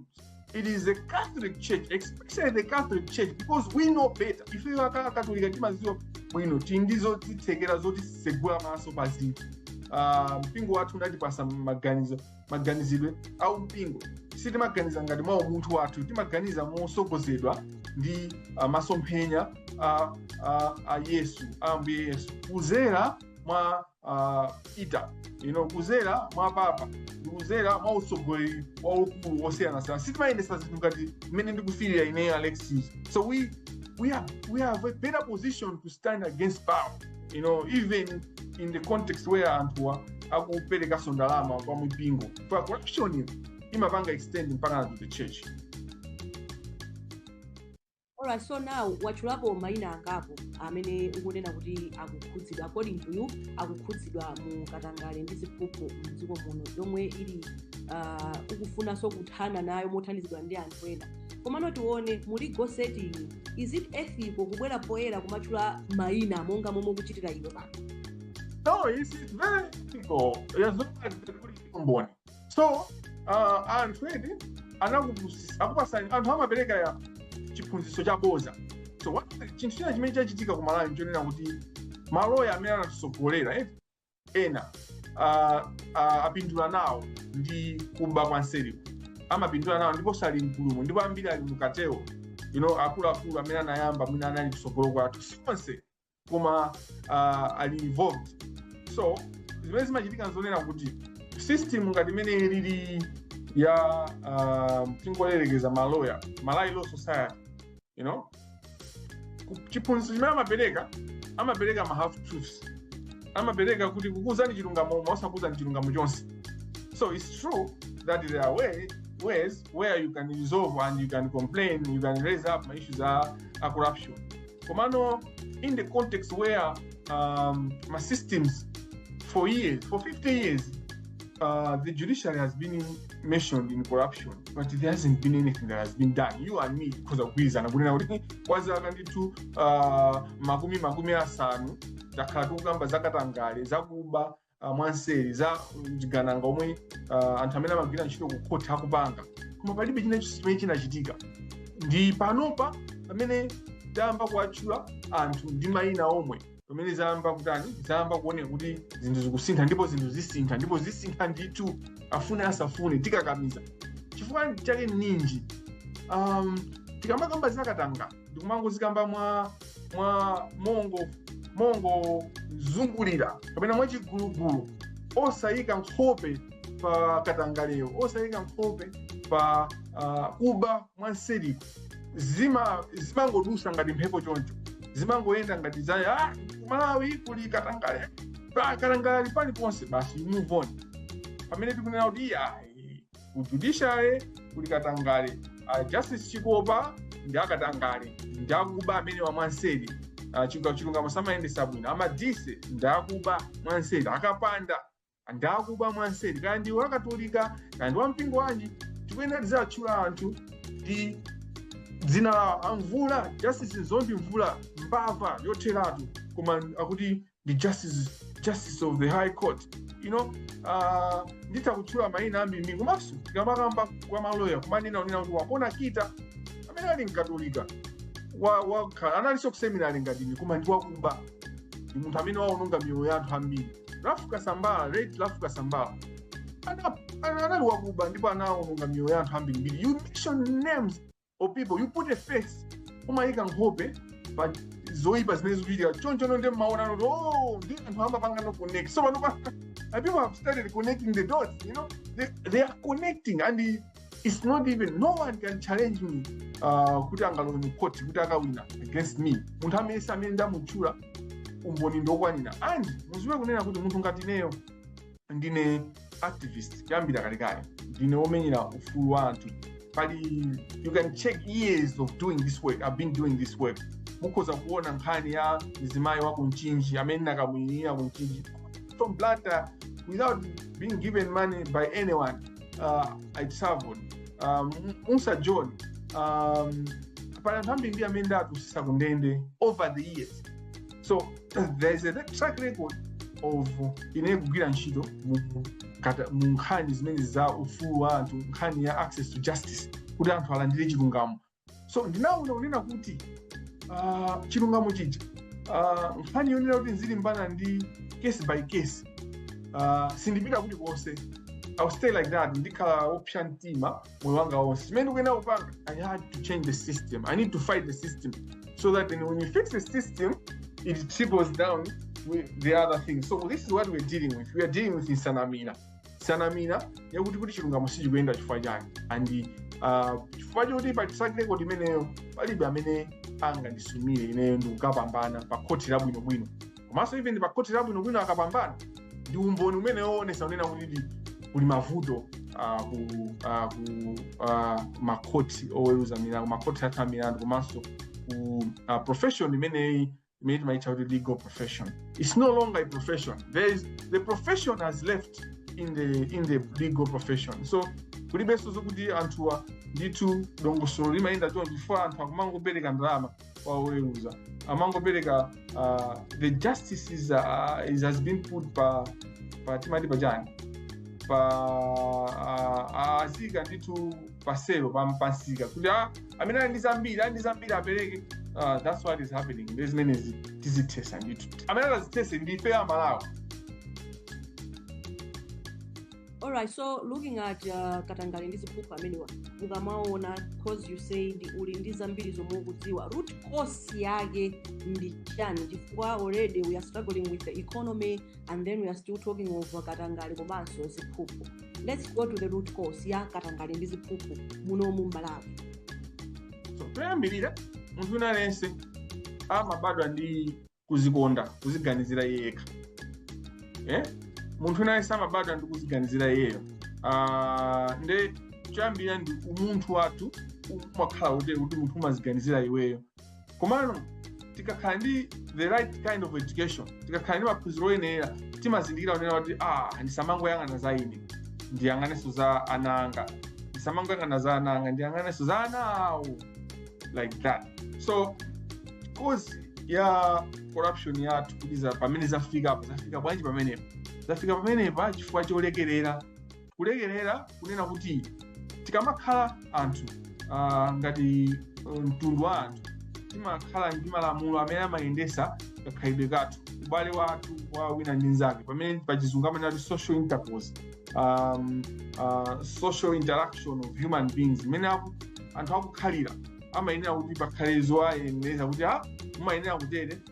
it is the catholic church especially the catholic church because we know better if you are catholic timaziwa bwino tili ndi zotithekera zotisegula maso pazinthu Ah, mpingo wathu unatipasa maganizo maganizidwe a umpingo sitimaganiza ngati mwa umunthu wathu timaganiza mosogozedwa ndi uh, masomphenya a, a, a yesu a ambuye yesu kuzera mwa uh, Peter you know, kuzera mwa papa kuzera mwa utsogoleri waukulu wosiyanasiyana sitimayendesa zinthu ngati mmene ndikufirira ineyo alexis so we, we, are, we have a better position to stand against power you know even in the context where anthuwa akuperekaso ndalama kwa mipingo for corruption iyo imapanga extend mpaka to the church Alright, so now watchulapo maina angapo amene ukunena kuti akukhudzidwa according to you akukhudzidwa mu katangale ndi ziphuphu mdziko muno yomwe ili uh, ukufunanso kuthana nayo mothandizidwa ndi anthu ena komano tione muli go setting is it ethical kubwera poyera kumatchula mayina monga momwe ukuchitira iwe pano No, it's it's very ethical. As long as the good is combined. So, uh, anthu edi anakupusisa akupasani anthu amapereka ya chiphunzitso cha boza so what- chinthu china chimene chachitika ku malawi nchonena kuti maloya amene anatisogolera eh, ena uh, uh, apindula nawo ndi kuba kwa nseriko amapindula nawo ndipo sali mkulumu ndipo ambiri ali m'katimo you know, akuluakulu amene anayamba mwina anali kutsogolo kwathu sonse koma uh, ali involved so zimene zimachitika nzonena kuti system ngati imene ilili ya uh, tingoyerekeza maloya malawi law society you know Ku- chiphunzitso chimene amapereka amapereka ma half truths amapereka kuti kukuuzani chilungamo koma osakuuzani chilungamo chonse so it's true that there are way, ways where you can resolve and you can complain you can raise up ma issues a, a corruption komano in the context where um, ma systems for years for 50 years uh, the judiciary has been mentioned in corruption but there hasn't been anything that has been done you and me tikhoza kugwirizana kunena kuti kwa zaka ndithu uh, makumi makumi asanu takhala tikukamba zakatangale zakuba uh, mwanseri za mchigananga zomwe uh, anthu amene amagwira ntchito ku court akupanga koma palibe china chilichonse chimene chinachitika ndi panopa pamene tayamba kuwatchula anthu ndi mayina omwe pamene zayamba kutani zayamba kuoneka kuti zinthu zikusintha ndipo zinthu zisintha ndipo zisintha ndithu afune asafune tikakamiza chifukwa chake ninji um, tikamakamba zakatangale ndikumangozikamba mwa mwa mongo mongo zungulira kapena mwachigulugulu osayika nkhope pa katangalewo osayika nkhope pa uh, kuba mwanseri zima zimangodutsa ngati mphepo choncho zimangoyenda ngati za ah, malawi kuli katangale Ah, katangale ali paliponse basi you move on pamene tikunena kuti iya ku judiciary kuli katangale Ah, Justice Chikopa ndi akatangale ndi akuba amene wa mwanseri Ah, chilunga- chilungamo samayendesa bwino a Madise ndi akuba mwanseri a Kapanda ndi akuba mwanseri kaya ndi wakatolika kaya ndi wampingo wanji tikuyenera tiziwatchula anthu ndi dzina lawo a Mvula justice Dzondi Mvula mbava yotheratu koma akuti ndi justice justice of the high court you know uh, nditha kutchula mayina ambiri komanso tikamakamba kwa maloya kumanena kunena kuti Wapona Kita amene ali mkatolika wa- wakhala analinso kuseminali ngati ine koma ndi wakuba ndi munthu amene waononga miyoyo ya anthu ambiri Ralph Kasambara, late Ralph Kasambara ana- ana- anali wakuba ndipo anawononga miyoyo ya anthu ambirimbiri. You mention names of people, you put a face, umayika nkhope pa zoipa zimene zikuchitika. Choncho no ndiye mmaona kuti oh, ndi anthu amapanga no connect. So panopa and people have started connecting the dots, you know. They, they are connecting and its not even no one can challenge me uh, kuti angalowe mu court kuti akawina against me munthu amene amene ndamutchula umboni ndokwanira and muziwe kunena kuti munthu ngati ineyo ndine activist kuyambira kalekale ndine womenyera ufulu wa anthu pali you can check years of doing this work i've been doing this work mukhoza kuona nkhani ya mzimayi wa ku Mchinji amene nakamuyimira ku Mchinji from Blantyre without being given money by anyone uh, i traveled um, Mussa John um, pali anthu ambiri ndi amene ndawatulutsitsa ku ndende over the years so there is a track record of ine kugwira ntchito mu- mu- kata- mu nkhani zimene za ufulu wa anthu nkhani ya access to justice kuti anthu alandire chilungamo so ndinawona kunena kuti ah, chilungamo chija ah, nkhani yonena kuti ndizilimbana ndi case by case ah, sindipita kuti konse I'll stay like that ndikhala wopsa mtima moyo wanga wonse chimene ndikuyenera kupanga i had to change the system i need to fight the system so that then when you fix the system it trickles down with the other things so this is what we're dealing with we are dealing with nsanamira nsanamira yakuti kuti chilungamo sichikuyenda chifukwa chake and uh, chifukwa choti pa track record imeneyo palibe amene angandisumire ineyo ndikukapambana pa khoti labwinobwino komanso even pa khoti labwinobwino akapambana ndi umboni umene woonesa kunena kuti kuli mavuto uh, ku, uh, ku uh, makhoti oweruza milandu makhoti atha milandu komanso ku uh, profession imeneyi mmati maitcha kuti legal profession. It's no longer a profession. There is the profession has left in the in the legal profession. So kulibenso zokuti anthuwa ndithu dongosolo limayenda choncho chifukwa anthu akumangopereka ndalama kwa oweruza amangopereka uh, the justice is, uh, is has been put pa pa timati pachani pa uh, azika ndithu pa sale pa pamsika kuti ah, amene ali ndi zambiri ali ndi zambiri apereke Ah, that's what is happening ndi zimene zi- tizithetse ndithu amene atazithetse ndife amalawi All right, so looking at uh, katangale ndi ziphuphu amene ukamaona cause you said uli ndi zambiri zomwe ukudziwa root cause yake ndi chani chifukwa already we are struggling with the economy and then we are still talking of katangale komanso ziphuphu let's go to the root cause ya katangale ndi ziphuphu munomu m'Malawi so choyambirira munthu wina aliyense amabadwa ndi kuzikonda kuziganizira iye yekha eh? munthu wina aliyense amabadwa ndi kuziganizira iyeyo Ah, nde choyambirira ndi umunthu wathu umakhala utere kuti munthu umaziganizira iweyo komano tikakhala ndi the right kind of education tikakhala ndi maphunziro oyenera timazindikira kunena kuti ah ndisamangoyang'ana za ine ndiyang'anenso za ana anga ndisamangoyang'ana za ana anga ndiyang'anenso za ana awo like that so cause ya corruption yathu kuti za- pamene zafika apa zafika bwanji pamenepa zafika pamenepa chifukwa cholekerera kulekerera kunena kuti tikamakhala anthu ah, ngati eh, mtundu wa anthu timakhala ndi malamulo amene amayendesa kakhalidwe kathu ubale wathu wa wina ndi nzake pamene pachizungu amanena kuti social intercourse um, uh, social interaction of human beings mmene aku- anthu akukhalira amayenera kuti pakhale zowayenereza kuti ah mumayenera kutere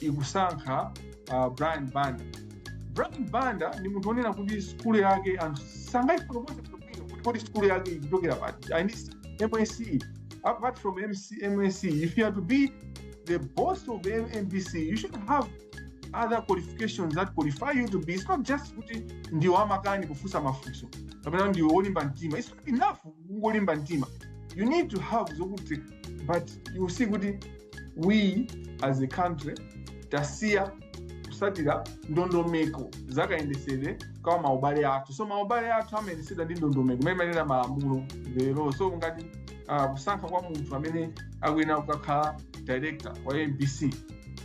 ikusankha uh, brian banda brian banda ndi munthu onena kuti sukulu yake anthu sangayifotokoze bwino kuti kodi sukulu yake ikuchokera pati MSCE apart from MC, MSCE if you are to be the boss of mbc you should have other qualifications that qualify you to be it's not just kuti ndi wamakani kufunsa mafunso kapena ndi wolimba mtima it's not enough kungolimba mtima you need to have zokuti but you see kuti we as a country tasiya kusatira ndondomeko za kayendesedwe ka maubale athu so maubale athu amayendesedwa ndi ndondomeko imene timanena malamulo lero so ngati uh, kusankha kwa munthu amene akuyenera kukakhala director wa mbc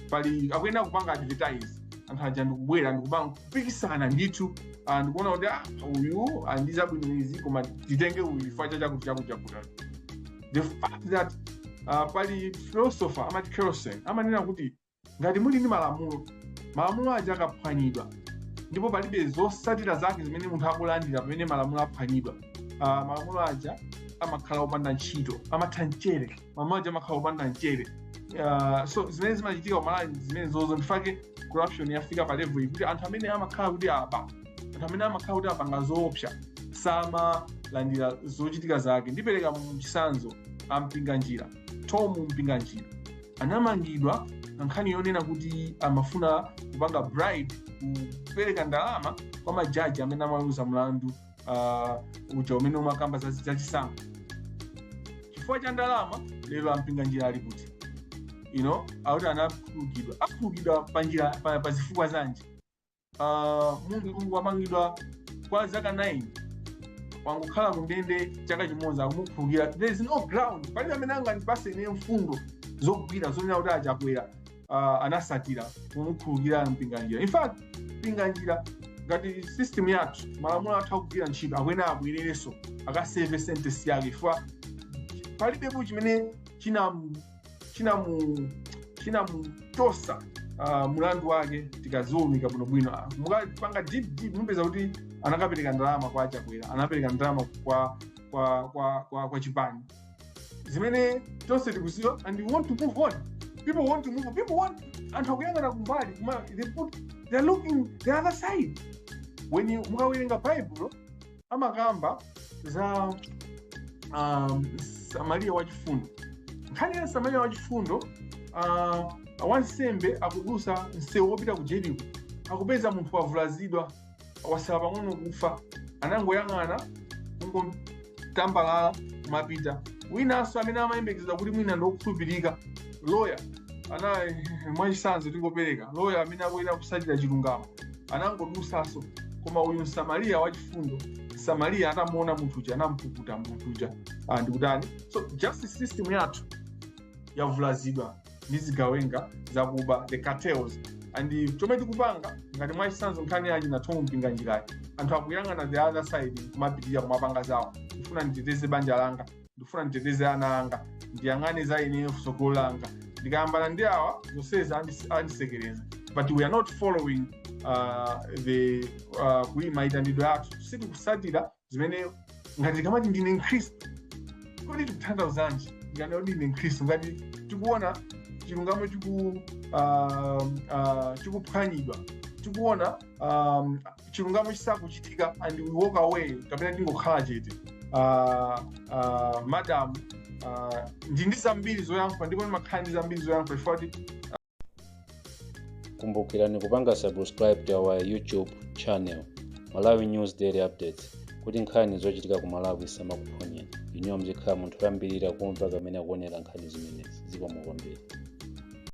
pali akuyenera kupanga advertise anthu aja ndikubwera ndikupanga kupikisana ndithu ah, ndikuona kuti ah, uyu wadziwa bwino izi koma titenge uyu chifukwa cha chakuti chakuti chakuti the fact that uh, pali philosopher amati Kelsen amanena kuti ngati muli ndi malamulo malamulo aja akaphwanyidwa ndipo palibe zosatira zake zimene munthu akulandira pamene malamulo aphwanyidwa uh, malamulo aja amakhala opanda ntchito amatha mchere malamulo aja amakhala opanda mchere uh, so zimene zimachitika kumalawi zimenezozo ndi chifukwa chake corruption yafika pa level iyi kuti anthu amene amakhala kuti aba anthu amene amakhala kuti apanga zoopsa samalandira zochitika zake ndipereka chisanzo a mpinganjira tom mpinganjira anamangidwa pa nkhani yonena kuti amafuna kupanga bribe kupereka ndalama kwa majaji amene amaweruza mlandu ah, uja umene umakamba za- zachisankho chifukwa cha ndalama lero a mpinganjira ali kuti you know akuti anakhululukidwa akhululukidwa pa njira pa, pa zifukwa zanji ah, munthu wamangidwa kwa zaka 9 wangokhala kundende chaka chimodzi akumukhululukira there is no ground palibe amene angandipase ine mfundo zogwira zonena kuti a chakwera ah, anasatira kumukhululukira mpinganjira in fact mpinganjira ngati system yathu malamulo athu akugwira ntchito akuyenera abwererenso akaseve sentesi yake chifukwa palibepo chimene china chinamu chinamutosa uh, mulandu wake tikaziwunika bwinobwino Ah, mukapanga dig deep mupeza kuti anakapereka ndalama kwa chakwera anapereka ndalama kwa kwa kwa kwa, kwa chipani zimene tonse tikuziwa and we want to move on people want to move on. people want anthu akuyang'ana kumbali koma they put they're looking the other side when you mukawerenga bible amakamba za um, samariya wachifundo nkhani ya samariya wachifundo uh, wansembe akudusa msewu wopita ku jeriko akupeza munthu wavulazidwa wasala pang'ono kufa anangoyang'ana kungotambalala kumapita winanso amene amayembekezedwa kuti mwina ndi wokhulupirika loya ana mwachisanzo tingopereka loya amene akuyenera kusatira chilungamo anangodusaso koma uyu msamariya wachifundo msamariya atamuona munthu uja anampukuta munthu uja ah, ndikutani so justice system yathu yavulazidwa ndi zigawenga zakuba the cartels and chomwe tikupanga ngati mwachisanzo nkhani ya chi ya Thom Mpinganjirayi anthu akuyang'ana the other side kumapitirira kumapanga zawo ndifuna nditeteze banja langa ndifuna nditeteze ana anga ndiyang'ane za ineyo sogolo langa ndikayambana ndi awa zonseza andis- andisekereza but we are not following uh, the uh, ku maitanidwe athu sitikusatira zimene ngati tikamati ndine mkhristu kodi tikutanthauzanji tikati ndine mkhristu ngati tikuona chilungamo chiku uh, uh, chikuphwanyidwa tikuona um, chilungamo chisakuchitika and we walk away kapena tingokhala chete uh, uh, madam uh, ndili ndi zambiri zoyankhula ndipo ndimakhala ndi zambiri zoyankhula chifukwa choti kumbukirani kupanga subscribe to our youtube channel malawi news daily updates kuti nkhani zochitika ku malawi zisamakuphonyeni inuyo muzikhala munthu woyambirira kumva komanso kuonera nkhani zimenezi zikomo kwambiri